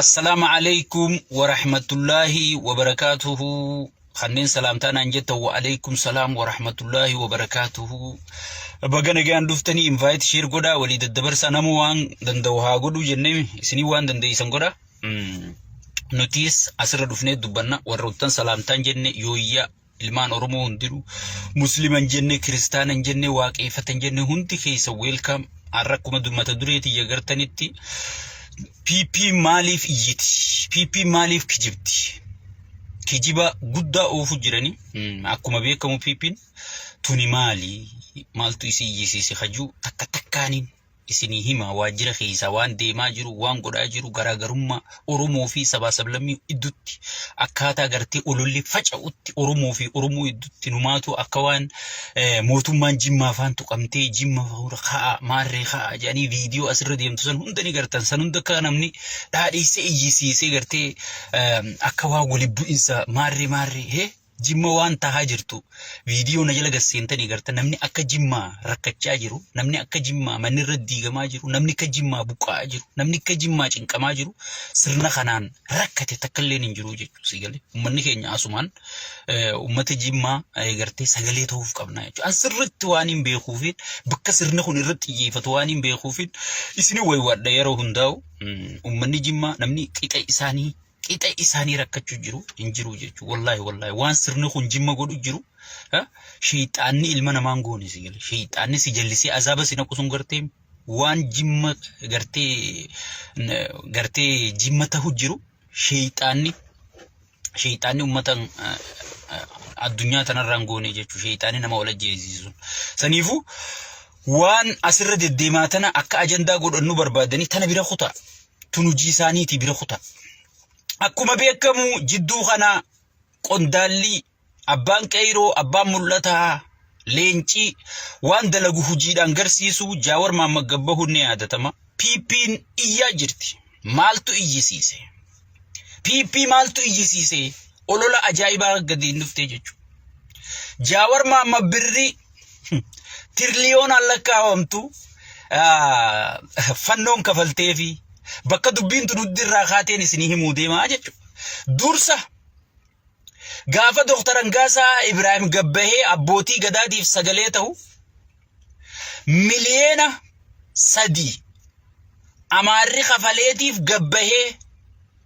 Assalaamu Aleykum Warahmatullaahi Wabarakaatuhu Kanneen salaamtaa naan jettan wa Aleykum Salaam Warahmatullaahi Wabarakaatuhu Baga nagaan dhuftanii invite share godhaa walii daddabarsaa namuu waan danda'u haa godhuu jennee isinii waan dandeeysan godha Mm. nutis asirra dhufnee dubbanna warroottan salaamtaan jenne yooyyaa Ilmaan Oromoo hundinuu Muslima hin jenne, Kiristaana hin jenne, Waaqeeffata hin jenne hundi keessa weelkaam har'a akkuma mata duree tiyya gartanitti PP maaliif iyyiti? PP maaliif kijibdi? Kijiba guddaa oofuu jirani. Akkuma beekamu PPn tuni maali? Maaltu isii iyyisiise hajuu takka takkaaniin isinii himaa waajjira keessaa waan deemaa jiru waan godhaa jiru garaagarummaa Oromoo fi sabaa sablammii iddutti akkaataa gartee ololli faca'utti Oromoo fi Oromoo iddutti numaatu akka waan mootummaan jimmaa faan tuqamtee jimma fuura ka'a maarree ka'a jedhanii viidiyoo asirra deemtu san hunda ni gartan san hunda akka namni dhaadheessee iyyisiisee gartee akka waan wali bu'insa maarree maarree hee Jimma waan tahaa jirtu viidiyoo na jala gasseentanii garta namni akka jimmaa rakkachaa jiru namni akka jimmaa manni irra diigamaa jiru namni akka jimmaa buqqa'aa jiru namni akka jimmaa cinqamaa jiru sirna kanaan rakkate takkalleen hin jiru jechuu si galee ummanni keenya asumaan ummata jimmaa gartee sagalee ta'uuf qabna jechuudha an sirritti waan hin beekuufiin bakka sirni kun irratti xiyyeeffatu waan hin beekuufiin isin waywaadha yeroo hundaa'u ummanni jimmaa namni qixa isaanii qixa isaanii rakkachuu jiru hin jiru jechuudha. Wallaahi wallaahi waan sirni kun jimma godhu jiru sheexaanni ilma namaan goone si gale sheexaanni si jallisee azaaba si naqu sun gartee waan jimma gartee gartee jimma tahu jiru sheexaanni sheexaanni ummata addunyaa tanarraan goone jechuudha sheexaanni nama wal ajjeesisu sun saniifuu waan asirra deddeemaa tana akka ajandaa godhannu barbaadanii tana bira kutaa. tun hojii isaaniitii bira kuta. Akkuma beekamu jidduu kana qondaalli abbaan qeeyroo abbaan mul'ataa leencii waan dalagu hojiidhaan garsiisu jaawar maamma gabbahuun ni yaadatama. PP'n iyyaa jirti. Maaltu iyyisiise? PP maaltu iyyisiise? Olola ajaa'ibaa gadiin dhuftee jechuudha. Jaawar maamma birri Tiriliyoonaan lakkaa'amtu fannoon kafaltee fi bakka dubbiin tunuddi irraa kaateen isinii himuu deemaa jechuudha. Dursa gaafa Dooktar Angaasaa Ibraahim Gabbahee abbootii gadaatiif sagalee ta'u miliyeena sadii amaarri kafaleetiif gabbahee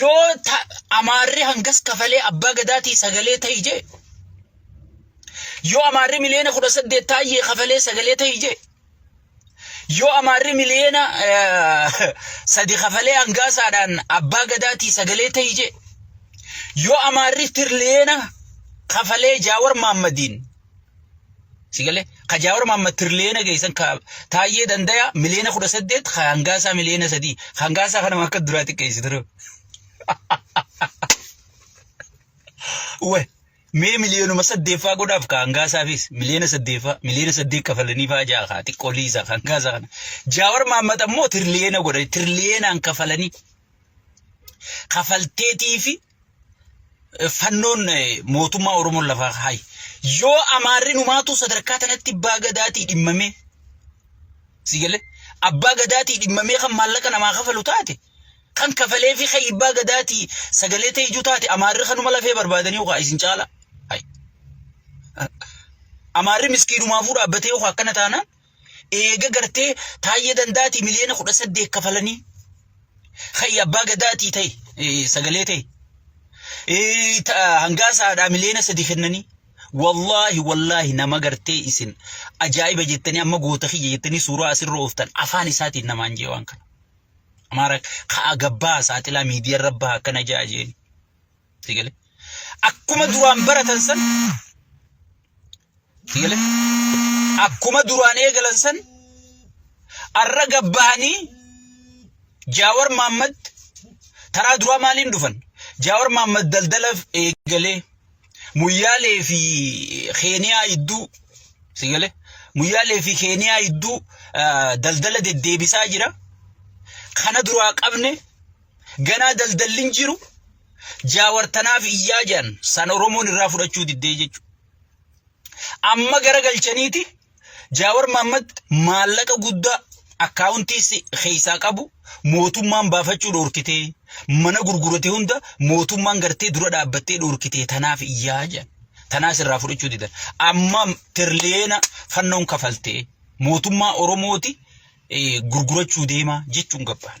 Yoo Amaarri hangas kafalee abbaa gadaatii sagalee ta'i jee. Yoo Amaarri miliyoona kudha saddeet taayyee kafalee sagalee ta'i jee. Yoo Amaarri miliyoona sadi kafalee hangaasaadhaan abbaa gadaatii sagalee ta'i jee. Yoo Amaarri tiriliyoona kafalee Jaawar Maammadiin Sigalee ka jaawar maamma tiriliyeena geessan ka taayyee dandaya miliyeena kudha saddeet ka hangaasaa miliyeena sadii ka hangaasaa kanama akka duraa xiqqeessi ture. Wee mee miliyeenuma saddeeffaa godhaaf ka hangaasaafis miliyeena saddeeffaa miliyeena saddeet kafalanii faa ja'a ka xiqqoo liisaa ka hangaasaa kana. Jaawar maammat ammoo tiriliyeena godhani tiriliyeena kafalanii kafalteetii fi fannoon mootummaa Oromoon lafaa kaayi. Yoo amaarri numaatu sadarkaa tanatti abbaa gadaatii dhimmamee si galee abbaa gadaatii dhimmamee kan maallaqa namaa kafalu taate kan kafalee fi kan abbaa gadaatii sagalee ta'e ijuu taate amaarri kanuma lafee barbaadanii yookaan isin caala. Amaarri miskiinumaafuu dhaabbatee yookaan akkana taanaan eega gartee taayya dandaatii miliyoona kudha saddeet kafalanii hayyi abbaa gadaatii ta'e sagalee ta'e hangaa saadhaa miliyoona sadii kennanii wallaahi wallaahi nama gartee isin ajaa'iba jettanii amma goota kiyya jettanii suuraa asirra ooftan afaan isaatiin namaan jee waan kana. Amaara ka'a gabbaa saaxilaa miidiyaan rabbaa akkana ja'a jeeni. Sigale. Akkuma duraan baratan san Malee akkuma duraan eegalan san arra gabbahanii Jaawar Maammad taraa duraa maaliin dhufan? Jaawar Maammad daldala eegalee muyyaalee fi Keeniyaa idduu si galee muyyaalee fi Keeniyaa idduu daldala deddeebisaa jira. Kana duraa qabne ganaa daldalli hin jiru. Jaawar tanaaf iyyaa jiran san Oromoon irraa fudhachuu diddee jechuudha. Amma gara galchaniiti Jaawar Maammad maallaqa guddaa akkaawuntii keessaa qabu mootummaan baafachuu dhoorkitee mana gurgurate hunda mootummaan gartee dura dhaabbattee dhoorkitee tanaaf iyyaa jedhan. Tanaas irraa fudhachuu didan. Amma tiriliyeena fannoon kafaltee mootummaa Oromooti gurgurachuu deemaa jechuun gabbaan.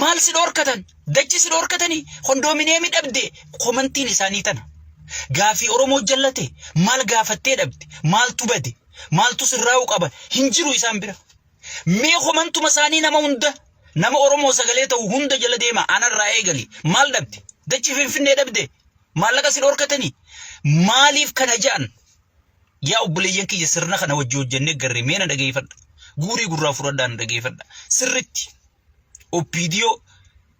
Maal si dhoorkatan? Dachi si dhoorkatanii? Kondoomineemii dhabde? Komantiin isaanii tana. Gaafii Oromoo jallate maal gaafattee dhabde? Maaltu bade? Maaltu sirraa'uu qaba? Hin jiru isaan bira. Mee komantuma isaanii nama hunda nama Oromoo sagalee ta'u hunda jala deema anarraa eegali. Maal dhabde? Dachi Finfinnee dhabde? Maallaqa si dhoorkatanii? Maaliif kana ja'an? Yaa obboleeyyan kiyya sirna kana wajji hojjannee garree mee na dhageeffadha. Guurii gurraa fudhadhaa na dhageeffadha. Sirritti oppiidiyoo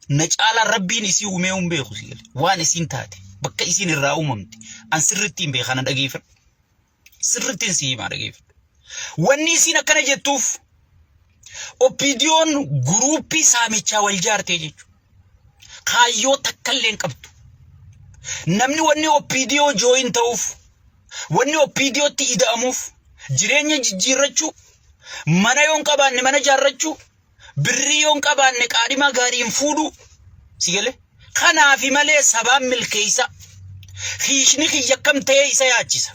na caalaa rabbiin isii uumee hin beeku si gale. Waan isiin taate bakka isiin irraa uumamte an sirritti hin beeka na dhageeffadha. Sirrittiin si himaa dhageeffadha. Wanni isiin akkana jettuuf oppiidiyoon guruuppii saamichaa wal jaartee jechuudha. Kaayyoo takka illee hin qabdu. Namni wanni OPDO jooyin ta'uuf, wanni OPDOtti ida'amuuf, jireenya jijjiirrachuu, mana yoo hin qabaanne mana jaarrachuu, birrii yoo hin qabaanne qaadhimaa gaarii hin fuudhuu. Si galee? Kanaafi malee sabaan milkeessa. Kiishni kiyya akkam ta'ee isa yaachisa.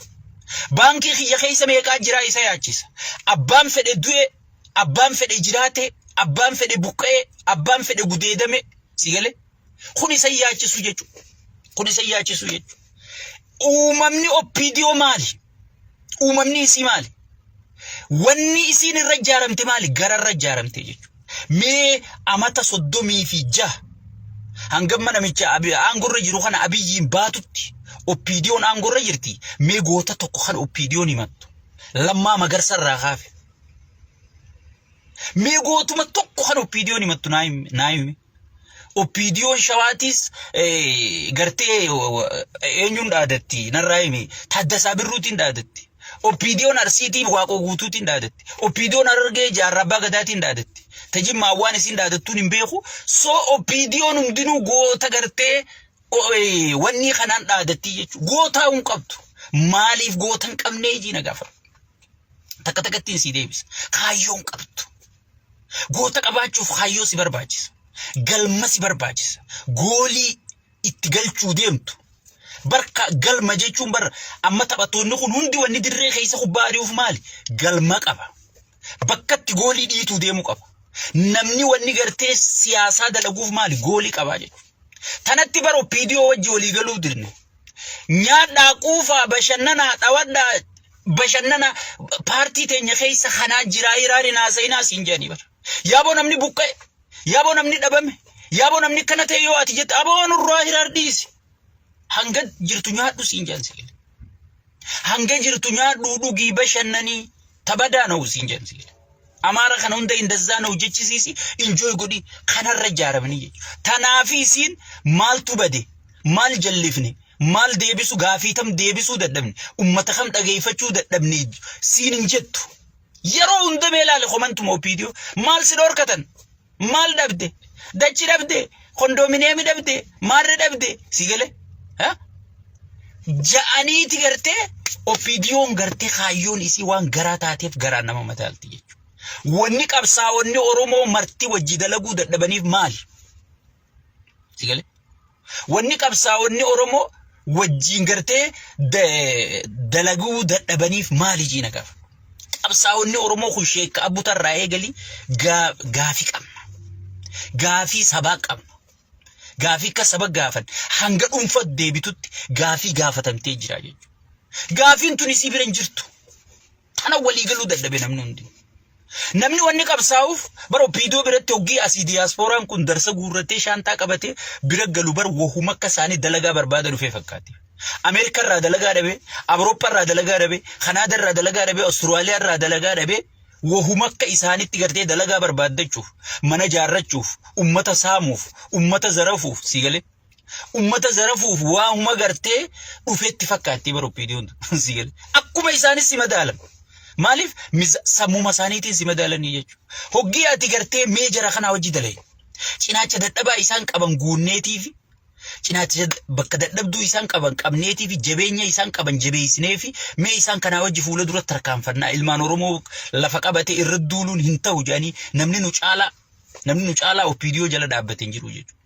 Baankii kiyya keessa meeqaa jiraa isa yaachisa. Abbaan fedhe du'e abbaan fedhe jiraate abbaan fedhe buqqa'e abbaan fedhe gudeedame si gale kun isa yaachisu jechuudha kun isa yaachisu jechuudha uumamni oppiidiyoo maali uumamni isii maali wanni isiin irra ijaaramte maali gara irra ijaaramte jechuudha mee amata soddomii fi jaha hangamma namicha abi- aangorra jiru kana abiyyiin baatutti oppiidiyoon aangorra jirti mee goota tokko kan oppiidiyoon himattu lammaa magarsa irraa kaafe Mee gootuma tokko kan oppiidiyoon himattu naa himi- naa himi. Oppiidiyoon shawaatiis eh, gartee eh, eenyuun dhaadatti narraa himi. Taaddasaa Birruutiin dhaadatti. Oppiidiyoon Arsiitiin Waaqoo Guutuutiin dhaadatti. Oppiidiyoon Harargee Jaarraa Abbaa Gadaatiin dhaadatti. Tajimmaa waan isiin dhaadattuun hin beeku. Soo oppiidiyoon hundinuu goota gartee wannii kanaan dhaadattii jechuun gootaa hin qabdu. Maaliif goota hin qabnee ijii na gaafadhu. Takka takkattiin sii deebisa. Kaayyoo hin qabdu. Goota qabaachuuf kaayyoo si barbaachisa. Galma si barbaachisa. Goolii itti galchuu deemtu. Barka galma jechuun bara amma taphattoonni kun hundi wanni dirree keessa kubbaa ari'uuf maali? Galma qaba. bakkatti goolii dhiituu deemu qaba. Namni wanni gartee siyaasaa dalaguuf maali goolii qabaa jedhu. Tanatti bara OPDO wajji walii galuu dirne. Nyaadhaa quufaa bashannanaa dhawadhaa bashannana paartii teenya keessa kanaa jiraa hiraari naasayinaa siin jedhanii bara. Yaaboo namni buqqa'e, yaaboo namni dhabame, yaaboo namni akkana ta'e yoo ati jette aboo nurraa hiraar dhiisi. Hanga jirtu nyaadhu siin jedhan sibiila. Hanga jirtu nyaadhu dhugii bashannanii tabadaa na'u siin jedhan sibiila. Amaara kana hunda indazzaa na'u jechisiisi injooy godhi kanarra ijaaramanii jechuudha. Tanaafi isiin maaltu bade maal jallifne maal deebisu gaafii tam deebisuu dadhabne ummata kam dhageeffachuu dadhabne siin hin jettu. Yeroo hunda mee ilaali komantuma opiidiyoo maal si dhorkatan Maal dhabde? Dachi dhabde? Kondoominiyeemii dhabde? Maarree dhabde? Si gale? Ja'aniiti gartee ofiidiyoon gartee kaayyoon isii waan garaa taateef garaa nama mataalti jechuudha. Wanni qabsaa'onni Oromoo marti wajji dalaguu dadhabaniif maali? Si galee? Wanni qabsaa'onni Oromoo wajjiin gartee da- dalaguu dadhabaniif maali jiina gaaf? Qabsaa'onni Oromoo kun sheekka abbuta irraa eegalii gaa- gaafii qabna. Gaafii sabaa qabna. Gaafii akka saba gaafan hanga dhuunfa deebitutti gaafii gaafatamtee jira jechuudha. Gaafiin tuni si bira hin jirtu. Kana walii galuu dadhabe namni hundi. Namni wanni qabsaa'uuf bara opiidoo biratti hoggii asii diyaaspooraan kun darsa guurratee shaantaa qabatee bira galu bara wahuma akka isaanii dalagaa barbaada dhufee fakkaate. Ameerikaa irraa dalagaa dhabe, Awurooppaa irraa dalagaa dhabe, Kanaadaa irraa dalagaa dhabe, Awustiraaliyaa irraa dalagaa dhabe wahuma akka isaanitti gartee dalagaa barbaaddachuuf, mana jaarrachuuf, ummata saamuuf, ummata zarafuuf sii galee. Ummata zarafuuf waa huma gartee dhufeetti fakkaatti bara oppiidiyoon si gale. Akkuma isaanis si madaalan. Maaliif sammuma isaaniitiin si madaalanii jechuudha. Hoggii ati gartee mee jara kanaa hojii dalage. Cinaacha dadhabaa isaan qaban guunneetiifi cinaacha bakka dadhabduu isaan qaban qabneetiifi jabeenya isaan qaban jabeessineefi mee isaan kanaa hojii fuula dura tarkaanfannaa ilmaan Oromoo lafa qabate irra duuluun hin ta'u jedhanii namni nu caalaa namni nu caalaa oppiidiyoo jala dhaabbate hin jiru jechuudha.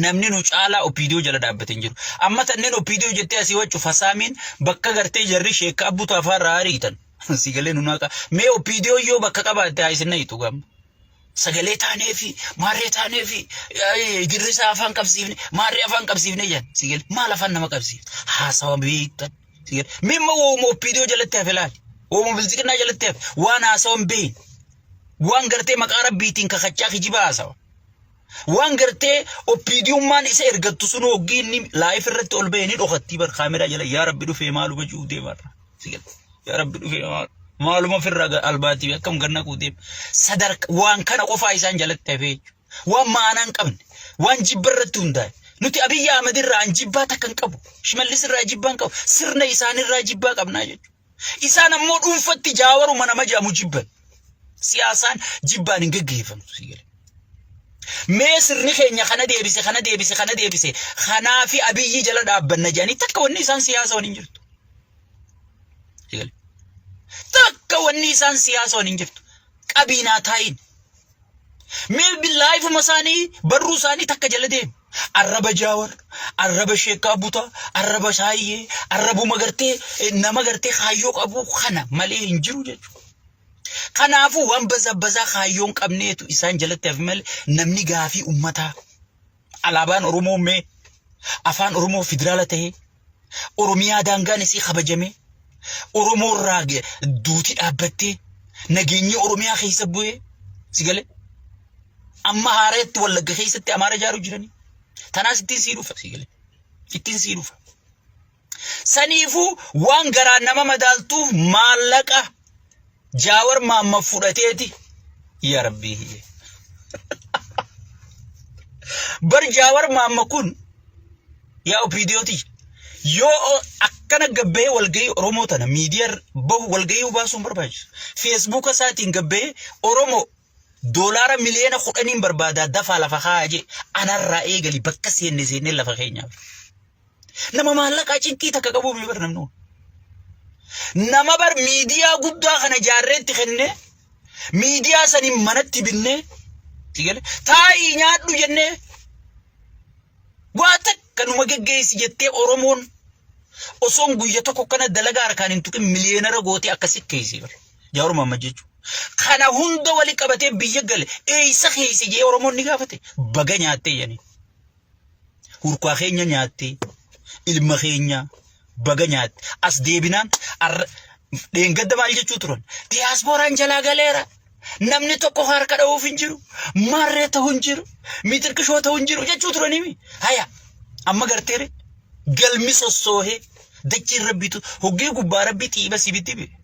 Namni nu caalaa OPDO jala dhaabbate hin jiru. Amma tanneen OPDO jettee asii waccu fasaamiin bakka gartee jarri sheekka abbuu taafaa irraa ariitan. Si galee nu naaqa. Mee OPDO yoo bakka qabaatte haa isin na'itu gamma. Sagalee taanee fi maarree taanee fi girrisaa afaan qabsiifne maarree afaan qabsiifne jedhan. Si galee maal afaan nama qabsiifne haasawa beektan. Si galee mee immoo wooma OPDO jalatti hafe laali. Wooma bilziqinaa jalatti hafe waan haasawa hin beekne. Waan gartee maqaa rabbiitiin kakachaa kijibaa haasawa. Waan gartee oppiidiyummaan isa ergattu sun hoggii inni laayif irratti ol ba'e ni dhokattii bar kaameraa jala yaa rabbi dhufee maalu bajuu deemarra. Yaa rabbi dhufee maalu. Maaluma ofirraa albaatiif akkam ganna kuu deema. Sadarka waan kana qofaa isaan jalatti hafee waan maanaa hin qabne waan jibba irratti hundaa'e. Nuti Abiyyi Ahmed irraa an jibbaa takka hin qabu. Shimallis irraa jibbaa hin qabu. Sirna isaanii irraa jibbaa qabnaa jechuudha. Isaan ammoo dhuunfatti jaawaruma nama jedhamu jibban. Siyaasaan jibbaan hin geggeeffamtu si jedhe. Mee sirni keenya kana deebise kana deebise kana deebise kanaa fi abiyyii jala dhaabbanna jedhanii takka wanni isaan siyaasa waliin jirtu. Si jedhe. Takka wanni isaan siyaasa waliin jirtu. Qabiinaa taa'iin. Mee billaayifuma isaanii barruu isaanii takka jala deemu. Arraba jaawar, arraba sheekaa butaa, arraba saayyee, arrabuma gartee eh, nama gartee kaayyoo qabu kana malee hin jiru jechuudha. Kanaafuu waan bazabbazaa kaayyoon qabneetu isaan jalatti hafi malee namni gaafii ummataa alaabaan Oromoo mee afaan Oromoo federaala ta'ee Oromiyaa daangaan isii kabajamee Oromoo irraa ge- duuti dhaabbattee nageenyi Oromiyaa keessa bu'ee si galee amma haareetti wallagga keessatti amaara ijaaruu jiranii tanaas ittiin sii dhufa si galee ittiin sii dhufa. Saniifuu waan garaan nama madaaltuuf maallaqa jaawar maamma fudhateeti yaa rabbii hiyye. Bar jaawar maamma kun yaa opiidiyooti yoo akkana gabbahee walgahii Oromoo tana miidiyaa bahu walgahii baasuun barbaachisu. Feesbuuka isaatiin gabbahee Oromoo Doolaara miliyoona kudhaniin barbaadaa dafaa lafa kaa'a jee anarraa eegali bakka seenne seennee lafa keenyaaf. Nama maallaqaa cinqii takka qabuu miti bar namni kun. Nama bar miidiyaa guddaa kana jaarreetti kennee miidiyaa saniin manatti binnee si gale taa'ii nyaadhu jennee waa takka numa geggeessi jettee Oromoon osoon guyya tokko kana dalagaa harkaan hin tuqin miliyeenara gootee akka sikkeessii bar. Jawaar Mohaammed jechuun. Kana hunda wali qabatee biyya gale eessa keessa jee Oromoon ni gaafate baga nyaattee jedhanii. Hurkaa keenya nyaattee ilma keenya baga nyaatte as deebinaan dheengadda maal jechuu turan diyaaspooraan jalaa galeera namni tokko harka dha'uuf hin jiru maarree ta'u hin jiru mitirqishoo ta'u hin jiru jechuu turaniimi haya amma garteere galmi sossoohee dachiin rabbiitu hoggee gubbaa rabbii xiiba sibitti bee.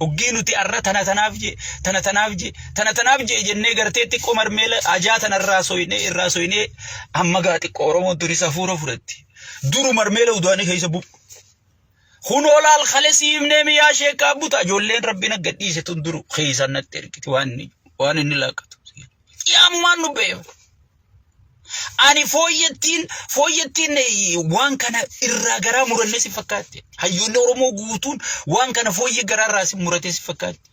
Hoggii nuti arra tana tanaaf jee, tana tanaaf jee, tana tanaaf jee jennee gartee xiqqoo marmeela ajaa tana irraa soynee irraa soynee amma gaa xiqqoo Oromoon tuni safuura fudhatti. Duru marmeela udaanii keessa bu'u. Kun olaal kale siimnee miyaa sheekaa buta ijoolleen rabbiin aggadhiise tun duru keessaan natti ergiti waan inni waan inni laakkatu. Qiyaamumaan nu beeku. Ani fooyyattiin fooyyattiin waan kana irraa garaa murannee si fakkaatti. Hayyoonni Oromoo guutuun waan kana fooyyee garaa irraa si muratee si fakkaatti.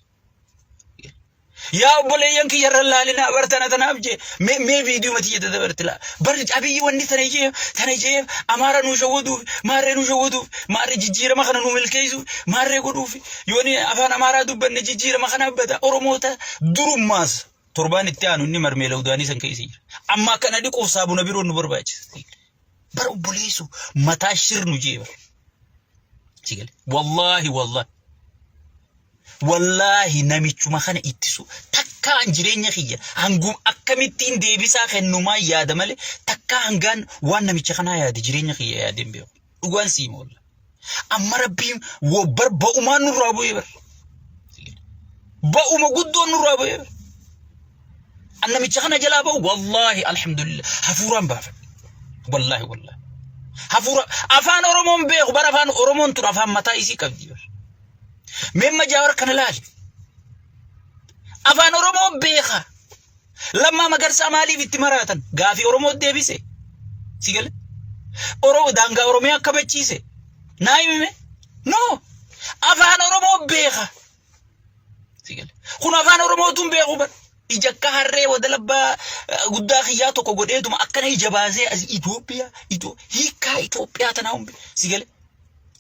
Yaa obboleeyyan kiyya irra laalinaa bar tana tanaaf jee mee mee viidiyoo mati jedhe dabarti laa. Bar abiyyi wanni tana jee tana jee amaara nu shawwaduuf maarree nu shawwaduuf maarree jijjiirama kana nu milkeessuuf maarree godhuuf yooni afaan amaaraa dubbanne jijjiirama kana abbata Oromoota durummaas Torbaan itti aanu inni marmeela udaanii san keessa jira. Amma akkana dhiquuf saabuna biroon nu barbaachisa. Bara obboleessu mataa shirnu jee bara. Sigale. Wallaahi wallaahi. Wallaahi namichuma kana ittisu takkaan jireenya kiyya hangum akkamittiin deebisaa kennumaa yaada malee takkaa hangaan waan namicha kanaa yaade jireenya kiyya yaadeen beeku. dhugaan sii moolla amma rabbiin wobbar ba'umaan nurraa bu'ee bar ba'uma guddoon nurraa bu'ee bar an namicha kana jalaa ba'u wallaahi alhamdulillah hafuuraan baafadhe wallaahi wallaahi hafuura afaan oromoon beeku bara afaan oromoon tun afaan mataa isii qabdi bar meemma jaawar kana laali afaan oromoo beeka Lammaa Magarsaa maaliif itti maraatan? Gaafii Oromoo deebise. Si gale? Oromoo daangaa Oromiyaa kabachiise. Naa himime? No! Afaan Oromoo beeka. Si gale? Kun afaan Oromootuun beeku bar. Ija akka harree wada labbaa eh, guddaa kiyyaa tokko godheetuma akkana ija baasee as Itoophiyaa, Itoo, hiikaa Itoophiyaa tanaa humbe. Si gale?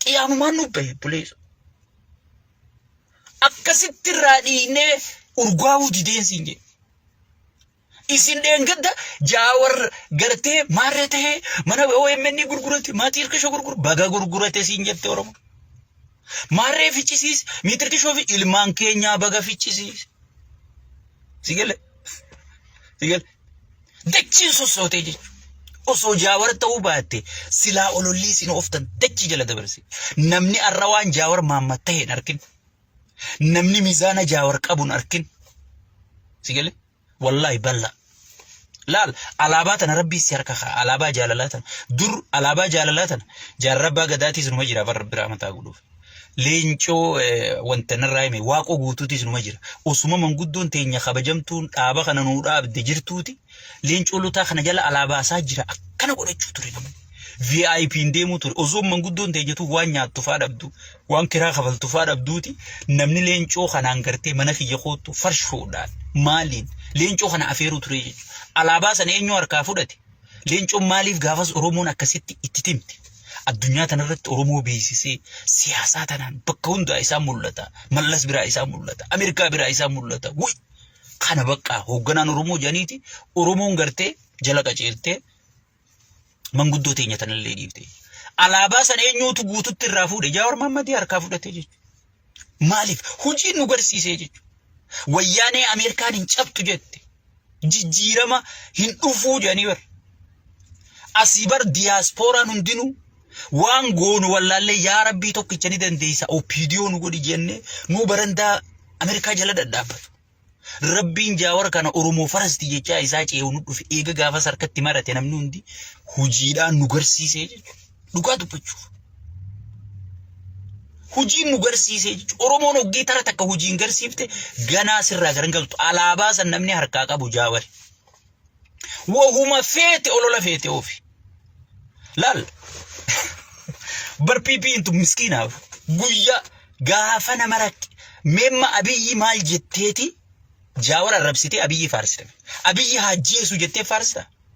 Qiyaamumaan nu bahe buleessa. Akkasitti irraa dhiignee urgaa'uu dideen siin jedhe. Isin dheengadda jaawar gartee maarree ta'ee mana OMN gurgurate maatii hirkisho gurguru baga gurgurate siin jette Oromoo. Maarree fichisiis miitir kishoo fi ilmaan keenyaa baga fichisiis. Si galee? Si galee? Dachiin sossootee jechuudha. Osoo jaawar ta'uu baatte silaa olollii isin ooftan dachii jala dabarse. Namni har'a waan jaawar maammat ta'e hin arkin. Namni mizaana jaawar qabu hin arkin. Si galee? Wallaahi bal'aa. Laal alaabaa tana rabbii si harka ka'a. Alaabaa jaalalaa tana. Dur alaabaa jaalalaa tana jaarrabbaa gadaatiis numa jira bara biraa mataa godhuuf. leencoo wanta narraa hime waaqoo guutuutis numa jira. Osuma manguddoon teenya kabajamtuun dhaaba kana nuu dhaabde jirtuuti leencoo lotaa kana jala alaabaasaa jira akkana godhachuu ture namni. VIP hin deemuu ture. Osoo manguddoon teenyatu waan nyaattu faa dhabdu waan kiraa kafaltu faa dhabduuti namni leencoo kanaan gartee mana kiyya koottu farshoodhaan maaliin leencoo kana afeeruu ture jechuudha. Alaabaa sana eenyu harkaa fudhate? Leencoon maaliif gaafas Oromoon akkasitti itti timte? Addunyaa tanarratti Oromoo beeksisee siyaasaa tanaan bakka hundaa isaa mul'ata. Mallas biraa isaa mul'ata. Ameerikaa biraa isaa mul'ata. Wuy! Kana baqqaa hoogganaan Oromoo jedhaniiti Oromoon gartee jala qaceeltee manguddoo teenya tanallee dhiifte. Alaabaa san eenyuutu guututti irraa fuudhe? Jaawar Maammadii harkaa fudhatee jechuudha. Maaliif? Hojiin nu garsiisee jechuudha. Wayyaanee Ameerikaan hin cabtu jette. Jijjiirama hin dhufuu jedhanii bar. Asii bar diyaaspooraan hundinuu waan goonu wallaallee yaa rabbii tokkicha ni dandeessa opiidiyoo nu godhi jennee nu barandaa Ameerikaa jala dhadhaabbatu. Rabbiin jaawar kana Oromoo farasti jechaa isaa cee'u nu dhufe eega gaafas harkatti marate namni hundi hojiidhaan nu garsiisee jechuudha. Dhugaa dubbachuuf. Hojiin nu garsiisee jechuudha. Oromoon hoggee tara takka hojiin garsiifte ganaa sirraa garan galtu. Alaabaa san namni harkaa qabu jaawari. Wahuma feete olola feete oofi. Laal. Bar PPn tun miskiinaaf guyyaa gaafa nama rakke memma abiyyi maal jetteeti jaawar arrabsitee abiyyi faarsite. Abiyyi haajjeesu jettee faarsita.